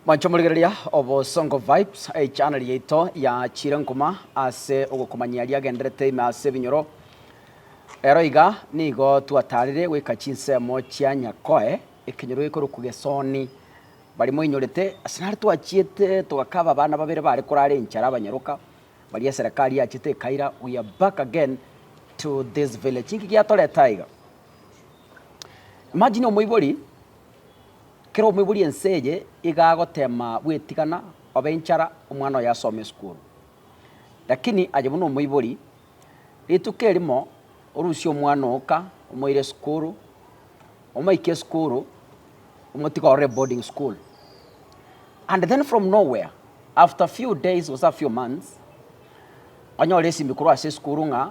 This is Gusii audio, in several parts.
Mwanche morigereria Obosongo Vibes, echaneli yaito ya chirenguma ase ogokomanyia riagenderete ime ase ebinyoro. Ero iga nigo twataarire goika chinsemo chia Nyakoe, ekenyoro gekorokwa Gesoni. Barimo inyorete, ase nare twachiete togakaba abana babere baare korara enchara abanyaroka, baria eserekari yachete ekaira, we are back again to this village. Inki giatorete aiga? Imagine omoibori Kera omoibori ense eye iga agotema bwetigana obe inchara omwana oye asome esukuru. Lakini aye buna omoibori, rituko erimo orusie omwana oka omoire esukuru, omoike esukuru, omotige orore boarding school. And then from nowhere, after few days gose a few months, onyore esimi korwa ase esukuru ng'a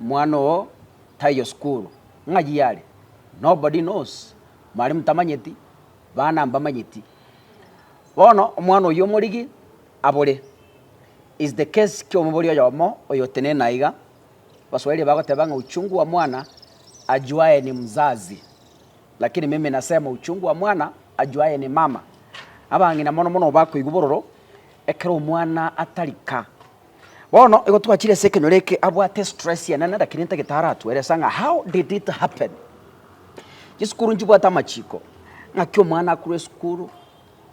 omwana oo. Taiyo sukuru, ng'ai yare? Nobody knows, mwalimu tamanyeti, bana mbamanyeti. Bono omwana oyio omorigi abore. Is the case ki'omobori oyomo oyotenena aiga, Baswahili bagoteba ng'a uchungu wa mwana ajuaye ni mzazi, lakini mimi nasema uchungu wa mwana ajuaye ni mama. Abang'ina mono mono bakoigwa bororo ekero omwana atarika Bono igo twachire ase ekenyoro eke abwate stress enene lakini ntagete aratueresa ng'a how did it happen. Chisukuru nchibwate amachiko ng'aki omwana akurwa esukuru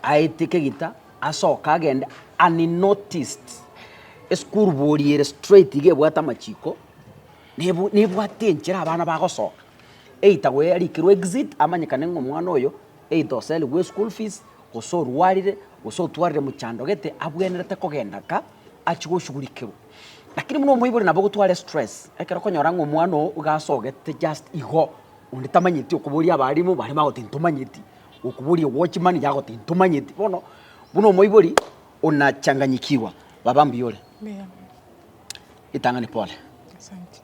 aitike gita asoke agende unnoticed. Esukuru bori ere straight iga ebwate amachiko nebu nebwate enchera abana bagosoka either goyarikirwe exit amanyekane ng'a omwana oyo. Either oserigwe eschool fees, gose orwarire, gose otwarire mochando gete abwenerete kogenda ka achie goshughulikerwa. Lakini buna omoibori nabo ogotware stress, ekero okonyora ng'a omwana oo iga asogete just igo, onde tamanyeti okoboria abarimu baria bagoteba ntomanyeti, okoboria ewatchman iga agoteba ntomanyeti, bono buna omoibori ona changanyikiwa. Baba mbuya ore? Mbuya mono. Ritang'ani pole. Asante.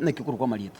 Naki okorokwa amarieta?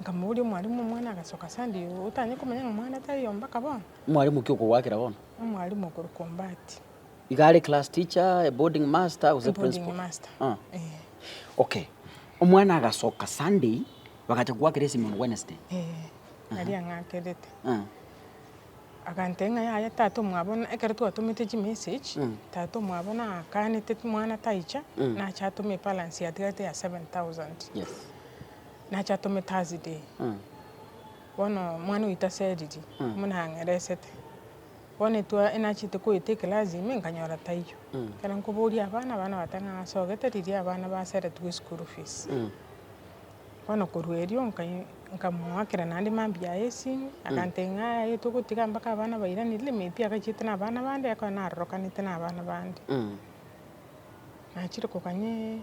Nkamobooria, Omwalimu, omwana agasoka ase ande igo, otanye komanya ng'a omwana tari ombaka bono? Omwalimu, ki okogoakera bono? Omwalimu okorokwa Ombati. Iga are class teacher, a boarding master, gose principal? Boarding master. Ah. Eh. Okay. Omwana agasoka Sunday, bagacha kogoakera esimi on Wednesday. Eh. Aria ang'akerete. Ah. Agantebia ng'a yaya tata omwabo na, ekero twatomete chimessage, Mm. tata omwabo naakanete mwana taicha, Mm. nache atome ebalance yatigarete ya seven thousand. Yes. Nache atome Thursday. Bono omwana oito ase eriri buna ang'eresete. Bono etwa enachete koeta eclass ime nkanyora taiyo. Ekero nkoboria abana, abana bateba ng'a nasogete riria abana baseretigwe school fees. Bono korwa erio nkai- nkamoakera naende mambia aye esimi, agantebia ng'a aye togotiga mpaka abana bairanire, maybe agachiete na abana bande, ekero narorokanete na abana bande. Nachire koganyee.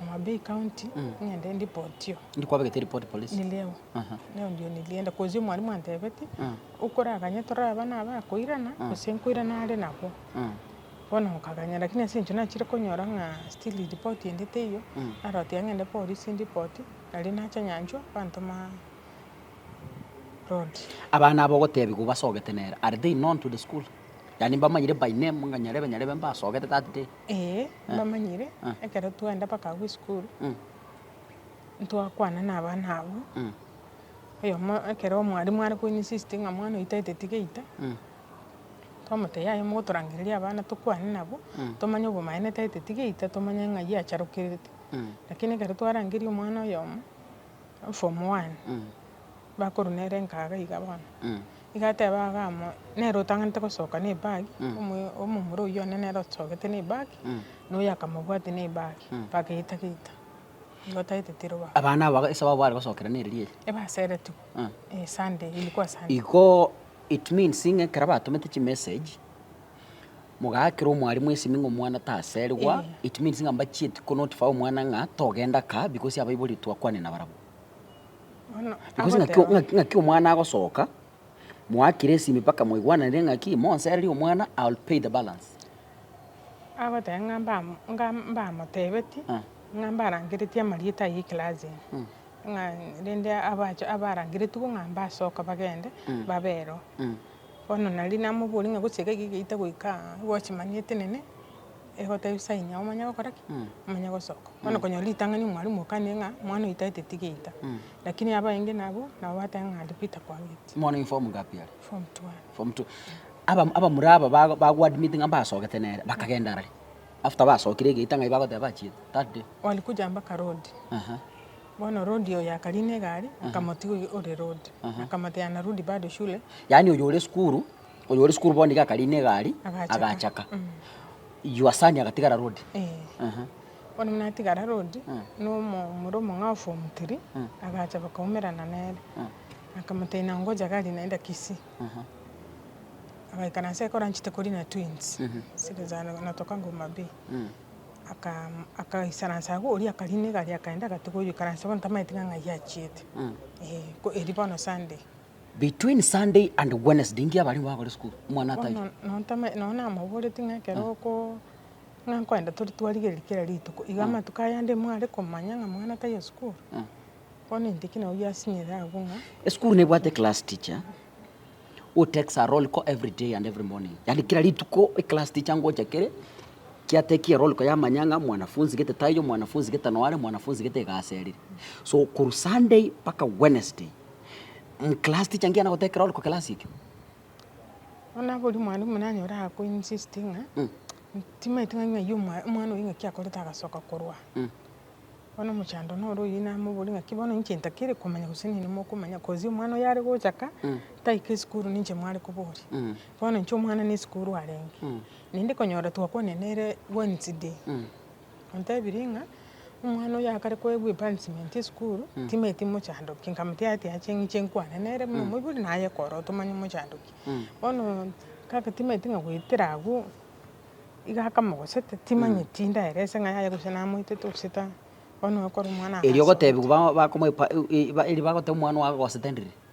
Homabay County ng'ende ndipotiyo. Ndi kwabegete report police. Nileo. Aha. Neo ndio nilienda. Kozi omwalimu antebeti, Ah. okoraganye toraba naba akoirana, Ah. gose nkoirana are nabo. Ah. Bono nkaganya lakini ase eng'encho nachire konyora ng'a still report ende teiyo, Mm. narotiga ng'ende polisi ndipoti, nari nacha nyanchwa, bantoma road. Abana aba ogotebiwa base ogotenera, are they known to the school? Yaani mbamanyire by name ng'a nyarebe nyarebe mbasogete that day. Ee, mbamanyire, Ah. ekero twaenda mpaka agwo esukuru, Mm. ntwakwana na abana abwo, Mm. oyomo ekero omwarimu are koinsist ng'a mwana oito aeteti geita, Mm. twamotebia yaya mogotorangereria abana tokwane nabo, Mm. tomanye obomaene taeteti geita, tomanye ng'ai acharokerete. Mm. Lakini ekero twarangeria omwana oyomo, form one, Mm. bakorwa nere nkaga iga bono, iga ateba iga amo, nere otang'anete gosoka ne ebag, omo- omomura oyio one nere osogete ne ebag, na oyo akamobwatia ne ebag, bagaeta gaeta, igo tagete tiroba. Abana aba ase ababo bare gosokera nere riaria. Ebaseretigwe, Ah. eh, Sunday, ilikuwa Sunday. Igo it means ng'a ekero batomete chimessage, mogaakera omwalimu esimi ng'a omwana taserigwa, Eh. it means ng'a mbachieti konotify omwana ng'a togenda kaa because abaibori twakwane nabarabwo. Because ng'aki o- ng'aki- ng'aki omwana agosoka, moakire esimi mpaka mwaigwananire ng'aki monsereri omwana I will pay the balance. Agoteba ng'a mbamo- ngam- mbamotebetie, Ah. ng'a mbarangeretie amarieta aye eclass eye, ng'a rende abache abarangeretigwe ng'a mbasoka bagende babero. Bono nari namoboria ng'a gose iga iga iga itagoika aa, gochimani etenene. Egoteba ebisayi nyago omanye gokora ki? Omanye gosoka. Bono okonyora ritang'ani mwalimu okane ng'a omwana oyo taete tigeita, lakini abaenge nabwo, nabo bateba ng'a aria Peter kwagete. Omwana oyo form ngapi are? Form two are. Form two. Aba- abamura aba bago bagoadmitinga mbasogete nere, bakagenda arare. After basokire egeita ng'ai bagoteba bachiete that day? Walikuja mpaka road, Aha. bono road oyo akarina egari, akamotiga ore road. Akamotebia narudi bado shule. Yaani oyo ore esukuru. Oyo ore sukuru bono iga akarina egari, agachaka. You are son agatigara road. Ehe. Bono buna atigara road, na omomura omong'ao of form three, agacha bakaumerana nere. Akamoteina ngocha gari naende Kisii. Agaikara nse koranchete korina twins, na tokago Homa Bay. Aka akaisara nse agwo, oria akarina egari akaenda agatiga oyo oikaranse bono tamaeti ng'a ng'ai achiete. Eeh, ko eria bono Sunday. Between Sunday and Wednesday ngiya baria nigo bakore sukuru, omwana Bono ataiyo. nontome, nonye namaboretie ng'a ekero oko, ng'a nkoenda tore twarigereria kera rituko, iga amatuko ayande mware komanya ng'a mwana taiyo sukuru, bono intwe ki nabo biasinyire agwo ng'a Esukuru nebwate eclass teacher who takes a roll call every day and every morning, yaani kera rituko eclass teacher ngocha kere, kiatekia eroll call yamanya ng'a mwanafunzi gete taiyo, mwanafunzi gete noyo are, mwanafunzi gete iga aserire. So korwa Sunday mpaka Wednesday. Class teacher ngiya nagotebi ekero ore class ekio. Bono boria mwalimu nanyore ako insist ng'a timanyete ng'a ng'ai omwana oyo ng'aki akorete agasoka korwa aa. Bono omochando noro oyio namoboria ng'aki bono inche ntakire komanya gose nini mokomanya cos omwana oyo are gocha ka taika esukuru ninche mware koboria. Bono inche omwana na esukuru arenge. Naende konyora twakwanire nere Wednesday. Ontebirie ng'a omwana oyo akare koegwa epansimenti esukuru, timanyeti mochandoki, nkamotia ati ache ng'iche nkwane nere buna omoibori na aye kore otomanye omochandoki. Bono kaka timanyeti ng'a goetera agwo, iga akamogosete, timanyeti ndaerese ng'a yaya gose namoetete gose ta, bono ekore omwana Erio ogotebiwa ba- bakomoepa- u- i- ba- erio bagoteba omwana ogo agogosete ndiri,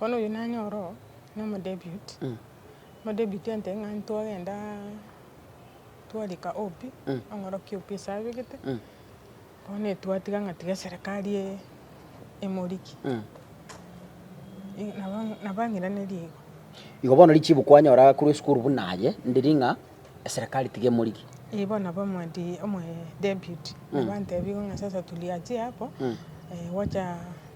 Bono oyio nanyore oro nomodebiut, omodebiut ente ng'a ntwagenda twarika obi, ong'orokia obi ase abegete, bono etwatiga ng'a tiga eserekari e- emoriki, i- nabo nabo ang'iranerie igo. Igo bono richibu kwanyora korwa esukuru buna aye, ndiri ng'a eserekari tiga emoriki. Eeh bono nabo omode omodebiut, nabo antebia igo ng'a sasa tuliachie hapo, gocha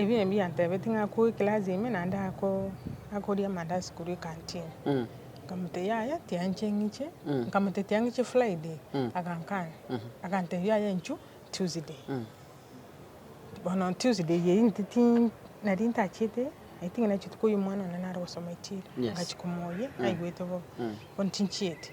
Ebi nabio yantebetie ng'a akoe eclass ime naende akoria amandazi korwa ecanteen. Nkamotebia yaya tianchie ng'iche, nkamotebia tiang'iche friday, agankana, agantebia yaya inchwe tuesday. Bono tuesday eye intiti nari ntachiete, nainche nigo nachia omwana one nare gosoma echiro, ngachia komoyia naigwete bobe, bono tinchieti.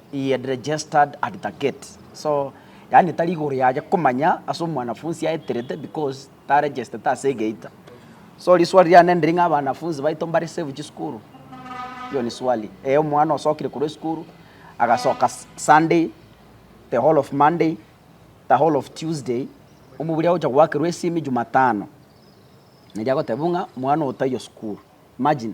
He had registered at the gate so yaani tari igoro yaye komanya ase omwanafunsi aeterete because taregestete ase egeita. So riswali riane ndiri ng'a abanafunsi baito mbare safe chisukuru? Hiyo ni swali. Ee omwana osokire korwa esukuru agasoka Sunday, the whole of Monday, the whole of Tuesday, omobori agocha goakerwa esimi Jumatano. Neri agoteba buna omwana oyo taiyo sukuru. Imagine.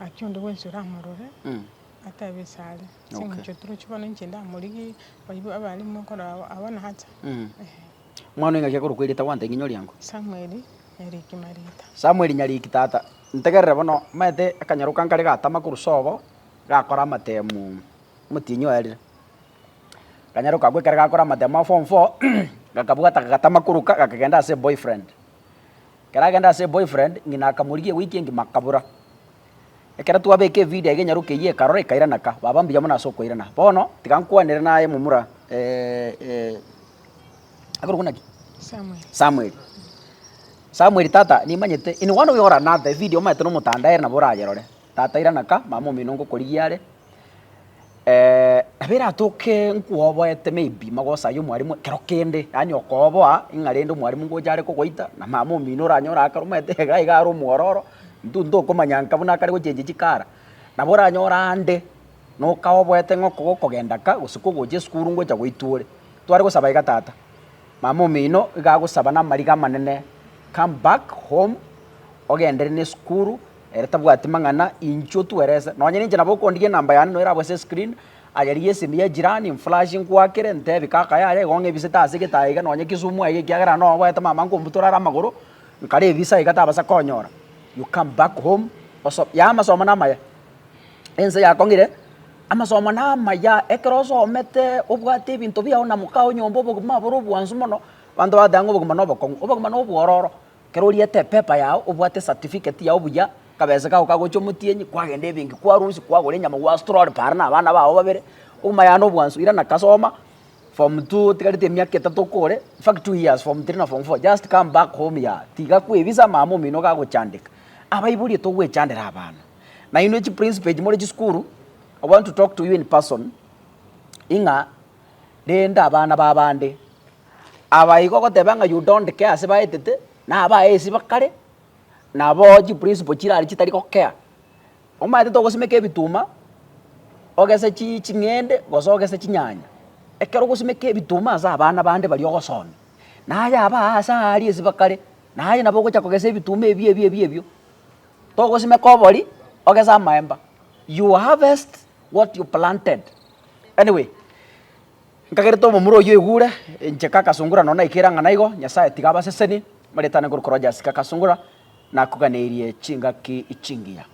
Gaki onde bwensi oramorore atebe ase are, Ase engencho toroche bono inche ndamorigie barabwo abarimo okora abwo, abwo nacha. Mwana w'engaki akorokwa erieta gwanta ing'enye oriango. Samueli Nyariki Mariita. Samueli Nyariki tata, ntegerere bono, omanyete akanyaroka nkare gatama korwa sobo, gakora amatemu, omotienyi oye rire. Akanyaroka agwo ekero gakora amatemu a form four, gakabwata kagatama koroka gakagenda ase boyfriend. Ekero agenda ase boyfriend, ng'ina akamorigia wiki engima akabora. Ekero twabeka evideo aiga enyaroka eyio ekarora ekairana ka, baba mbuya mono ase okoirana. Bono tiga nkwanere naye momura akorokwa naki? Samuel. Samuel. Samuel tata nimanyete in one way or another evideo omaete nomotandae ere nabo orayerore. Tata irana ka, mama omino ngokorigia are, nabo eratoke nkwoboete maybe magosayia omwarimu ekero kende, yaani okooboa ng'a rende omwarimu ngocha are kogoita na mama omino oranyore akare omanyete iga iga are omwororo, intwe ntokomanya nka buna akare gochengi chikara, nabo oranyore ande noka oboete ng'a oko gokogenda ka gose kogocha esukuru ngocha goitwa ore. Tware gosaba iga tata, mama omino iga agosaba na amariga amanene, come back home ogenderere na esukuru. Ere tabwati mang'ana inchuo twerese. Nonye ninche nabo okondigia enamba yane noyo erabwe ase escreen, aye rigia esimi ya ejirani nflash nkwakere ntebi kaka yaya igo ng'ebisete ase egetaya iga nonye Kisumu aiga ekiagera noo oboete mama nkombutora are amagoro nkare evisa iga tabasa konyora. You come back home oso ya amasomo namaya. Ense yakong'ire amasomo namaya ekero osomete obwate ebinto biao na mokao nyomba obogima bore obwansu mono abanto bagoteeba ng'a obogima na obokong'u, obogima na obwororo. Ekero oriete epepa yao obwate esatifiketi yao buya, kabese kako kagocha omotienyi, kwagenda ebenki kwarusia, kwagora enyama gwastrol para na abana bao babere, okomayana obwansu irana kasoma form two otigarete emiaka etato okore, in fact two years form three na form four just come back home yaya, tiga kwa ebisa mama omino iga agochandeka. Abaiboria togwechandera abana, nainwe chiprinciple echi more chisukuru, I want to talk to you in person, ing'a. rende abana b'abande. Aba igo ogoteba ng'a Yuda onde kea ase baetete, na abaesi bakare, nabo chiprisipo chire aria chitari gokea. Omanyete togosimeka ebituma, ogese chi ching'ende gose ogese chinyanya. Ekero ogosimeka ebituma ase abana bande baria ogosomia, naye aba aa ase aa aria ase bakare, naye nabo ogocha kogesa ebituma ebi ebi ebi ebio. Togosimeka obori, ogese amaemba. You harvest what you planted. Anyway, nkagerete omomura oyio egure, inche kakasungura nonya naikire ang'ana igo, Nyasaye tiga abasesenie, maretane korokwa Rogers kakasungura, nakuganeirie chingaki chingiya.